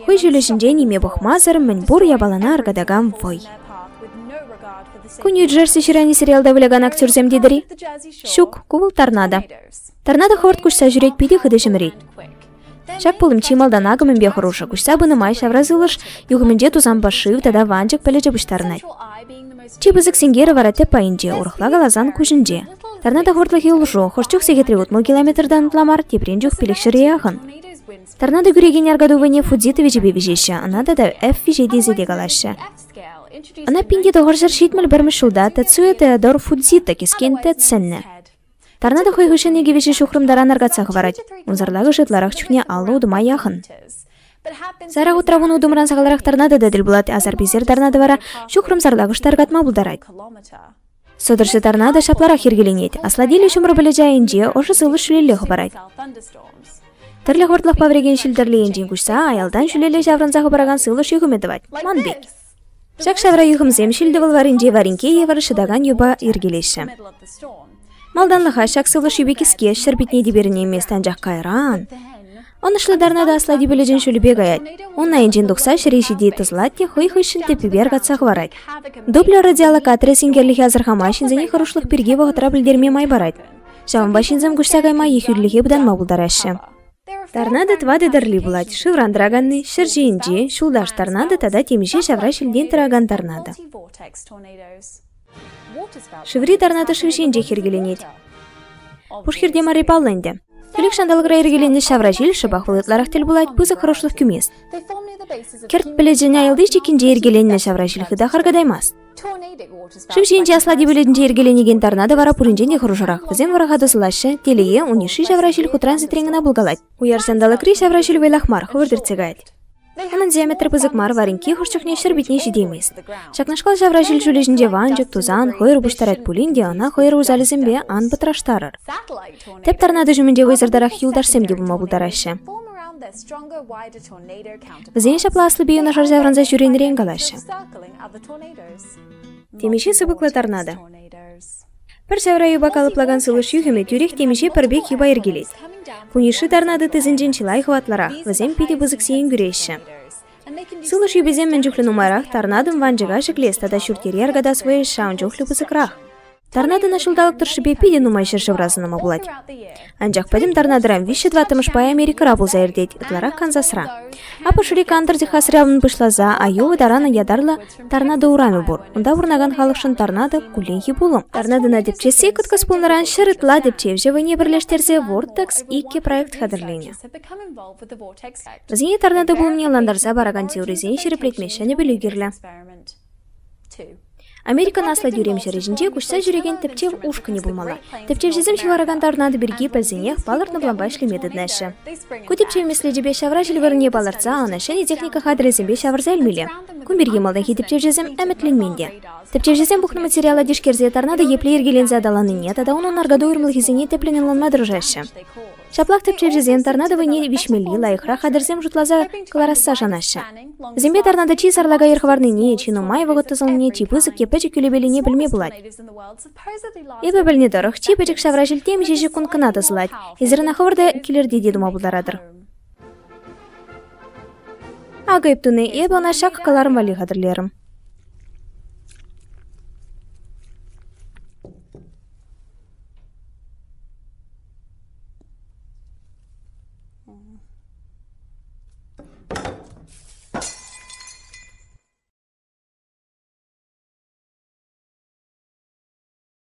Хӑй ҫулӗ ҫинче ниме пӑхмасӑр мӗнпур япалана аркатакан вӑй. Кунью Джерси ҫыранӗ сериалта вылякан актерсем тетӗр-и? Ҫук, ку вӑл торнадо. Торнадо хӑвӑрт куҫса ҫӳрет, питӗ хытӑ ҫӗмӗрет. Ҫак пулӑм чи малтан акӑмӗпе хӑрушӑ. Куҫса пынӑ май ҫавра сывлӑш юхӑмӗнче тусан пӑшив тата ванчӑк пӗлӗчӗ пуҫтарӑнать. Чи пысӑк синкерӗ вара тӗп пайӗнче, урӑхла каласан куҫӗнче. Торнадо хӑвӑртлӑхӗ улшу, хӑш чух сехетре утмӑл километртан ытла мар, теприн чух пилӗк ҫӗре яхӑн. Торнадо кӳрекен аркатупине Фудзитовичӗпе виҫеҫҫӗ, ӑна тата F-виҫе тесе те калаҫҫӗ. Ӑна пинте тӑхӑрҫӗр ҫитмӗл пӗрмӗш ҫулта Тацуя Теодор Фудзито кӗскен тет сӗннӗ. Торнадо хӑй хыҫҫӑн икӗ виҫӗ ҫухрӑм таран аркатса хӑварать. Унсӑрлахӑш ытларах чухне аллӑ утӑма яхӑн. Сайра утравун утӑмран сахалрах торнадо та тӗл пулать, асар-писер торнадо вара ҫухрӑм сарлакӑш та аркатма пултарать. Сӑтӑрҫӑ тарна та ҫапларах йӗркеленет. Аслатиллӗ ҫумӑр пӗлӗчӗ айӗнче ӑшӑ сывлӑш ҫӳлелле хӑпарать. Тӗрлӗ хӑртлӑхпа вӗрекен ҫил-тӗрлӗ енчен куҫса аялтан ҫӳлелле ҫаврӑнса хӑпаракан сывлӑш юхӑмӗ тӑвать. Ман пек. Ҫак ҫавра юхӑмсем ҫил-тӑвӑл варринче варинке евӗр шӑтакан юпа йӗркелеҫҫӗ. Малтанлӑха ҫак сывлӑш юпи кӗске ҫӗр питне те перӗнеймест, анчах кайран Ӑнӑҫлӑ тарна та аслати пӗлӗчӗн ҫулӗпе каять. Ун айӗнчен тухса ҫӗре ҫити тӑслать те хӑй хыҫҫӑн тӗппипер катса хӑварать. Дуплер радиолокаторӗ синкерлӗхе асӑрхама ҫынсене хӑрушлӑх пирки вӑхӑтра пӗлтерме май парать. Ҫавӑнпа ҫынсем куҫса кайма ехӳлӗхе пытанма пултараҫҫӗ. Торнадо тӑватӑ тӗрли пулать. Шывран тӑраканни, ҫӗр ҫийӗнчи, ҫулташ торнадо тата темиҫе ҫавра ҫилтен тӑракан торнадо. Шыври Тарнатыш вӗҫӗнчех йӗркеленет. Пушхирте марри паллӑ ӗнтӗ. Тӳлек ҫанталӑкра йӗркеленнӗ ҫавра ҫил шӑпах вӑл ытларах тӗл пулать пысӑк хӑрушлӑх кӳмест. Кӗрт пӗлӗчӗн аялти чиккинче йӗркеленнӗ ҫавра ҫил хытах аркатаймасть. Шыв ҫийӗнче аслати пӗлӗтӗнче йӗркеленекен тарна та вара пуринчен те хӑрушӑрах. Вӗсем вӑраха тӑсӑлаҫҫӗ, телее, ун йышши ҫавра ҫил хутран ситрен кӑна пулкалать. Уяр ҫанталӑкри ҫавра ҫил вӑйлах мар, хӑвӑрт иртсе каять. Хӗмӗн диаметрӗ пысӑк мар вар инки хӑш чухне ҫӗр питне ҫитеймест. Ҫакнашкал ҫавра ҫил ҫулӗ ҫинче ванчӑк, тусан, хӑйӑр пуҫтарать пулин те ӑна хӑйӑр усалӗсемпе ан пӑтраштарӑр. Тӗп тарнатӑ ҫумӗнче хӑйсӑртарах юлташсем те пулма пултараҫҫӗ. Вӗсен ҫапла аслипе юнашар ҫаврӑнса ҫӳренӗрен калаҫҫӗ. Темиҫе сыпӑклӑ торнадо. Пӗр ҫавра юпа калӑплакан сулӑш юхӑмӗ тӳрех темиҫе пӗр пек юпа йӗркелет. Ку Ниши тарна тыттисенчен чылай хӑватлӑрах, вӗсем питӗ пысӑк сиен кӳреҫҫӗ. Сулӑш юписем мӗн чухлӗ нумайрах тарнатӑн ванчӑка ҫӗклес тата ҫурт-йӗре аркатас вӑйӑҫ ҫавӑн чухлӗ пысӑкрах. Тарнатӑна ҫулталӑк тӑршшӗпе питӗ нумай ҫӗршывра сӑнама пулать. Анчах пӗтӗм тарнатӑран виҫҫӗ тӑваттӑмӗшпе Америкӑра пулса иртет, ытларах Канзасра. Апӑшри Кантӑр Техасра унӑн пуҫласа Айова таранӑн ятарлӑ Торнадо урамӗ пур. Унта пурӑнакан халӑхшӑн торнадо – кулленхи пулӑм. Торнадона тӗпчесси кӑткӑс пулнӑран ҫӗр ытла тӗпчевҫӗ вӑйне пӗрлештерсе Vortex иккӗ проект хатӗрленӗ. Вӗсене торнадо пулӑмне ӑнлантарса паракан теорисен ҫирӗплетме ҫӗнӗ пӗлӳ кирлӗ. Америкӑн аслӑ тӳрем ҫӗрӗ ҫинче куҫса ҫӳрекен тӗпчев ушкӑнӗ пулмалла. Тӗпчевҫӗсем ҫываракан торнадо пирки пӗлсенех палӑртнӑ планпа ӗҫлеме тытнаҫҫӗ. Ку тӗпчев меслечӗпе ҫавра ҫил вырӑнне палӑртса ӑна ҫӗнӗ техника хатӗрӗсемпе ҫавӑрса илмелле. Ку пирки малтанхи тӗпчевҫӗсем ӗмӗтленмен те. Тӗпчевҫӗсем пухнӑ материала тишкерсе тарна та епле йӗркеленсе аталаннине тата унӑн аркату уйрӑмлӑхӗсене тӗплӗн ӑнланма тӑрӑшаҫҫӗ. Ҫаплах тӗпчевҫӗсем торнадо вӑйне виҫмелли, лайӑхрах хатӗрсем шутласа кӑларасса шанаҫҫӗ. Вӗсемпе торнадо чи сарлака йӗр хӑварнине, чи нумай вӑхӑт тӑсӑлнине, чи пысӑк е пӗчӗк кӳлепеллине пӗлме пулать. Эпӗ пӗлнӗ тӑрӑх, чи пӗчӗк ҫавра ҫил темиҫе ҫеккунт кӑна тӑсӑлать. Эсир ӑна хӑвӑр та килӗрте те тума пултаратӑр. Акӑ эп туни, эпӗ ӑна ҫак кӑларӑм валли хатӗрлерӗм.